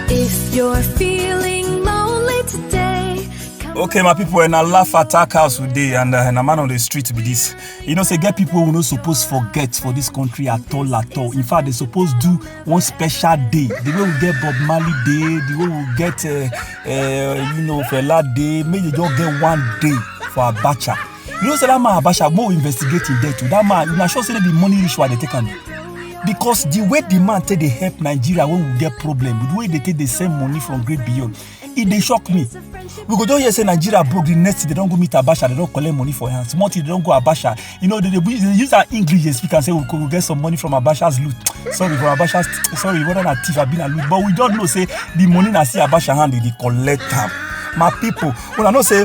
If you're feeling lonely today, come Okay, my people, and I laugh attack house today, and uh, and a man on the street be this. You know, say get people who no suppose forget for this country at all, at all. In fact, they suppose do one special day. The way we get Bob Marley Day, the way we get, uh, uh, you know, Fela Day. Maybe they just get one day for Abacha. you know say that man abasha go investigate him death o that man una sure say the money ritual dey take am because the way the man take dey help nigeria when we get problem the way they take dey send money from great beyond e dey shock me we go just hear say nigeria broke the next thing they don go meet abasha they don collect money for hand small thing they don go abasha you know they dey use they use our english dey speak am say we go we get some money from abasha's loot sorry for abasha's sorry whether na thief abi na loot but we just know say the money na still abasha hand they dey collect am my people una know say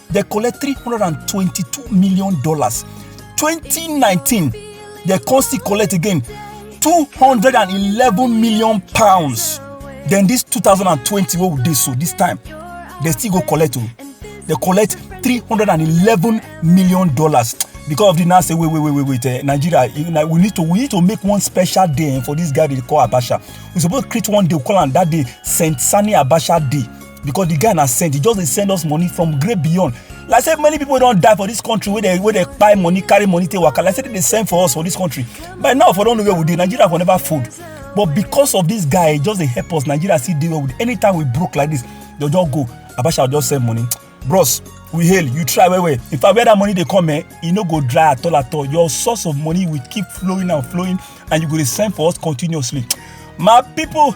dem collect three hundred and twenty-two million dollars twenty nineteen dem come still collect again two hundred and eleven million pounds then this two thousand and twenty wey we dey so this time dem still go collect o dem collect three hundred and eleven million dollars because of the now say wait wait wait wait wait eh, nigeria you know, we need to we need to make one special day eh, for this guy they dey call abacha we suppose create one day we call am that day saint sani abacha day because the guy na send he just dey send us money from great beyond like say many people don die for this country wey dey wey dey kpai money carry money take waka like say dem dey send for us for this country by now for don know where we dey nigeria for never fold but because of this guy he just dey help us nigeria still dey well with anytime we broke like this they just go abacha just send money bros we hail you try well well in fact where that money dey come eh e no go dry at all at all your source of money will keep flowing and flowing and you go dey send for us continuously my people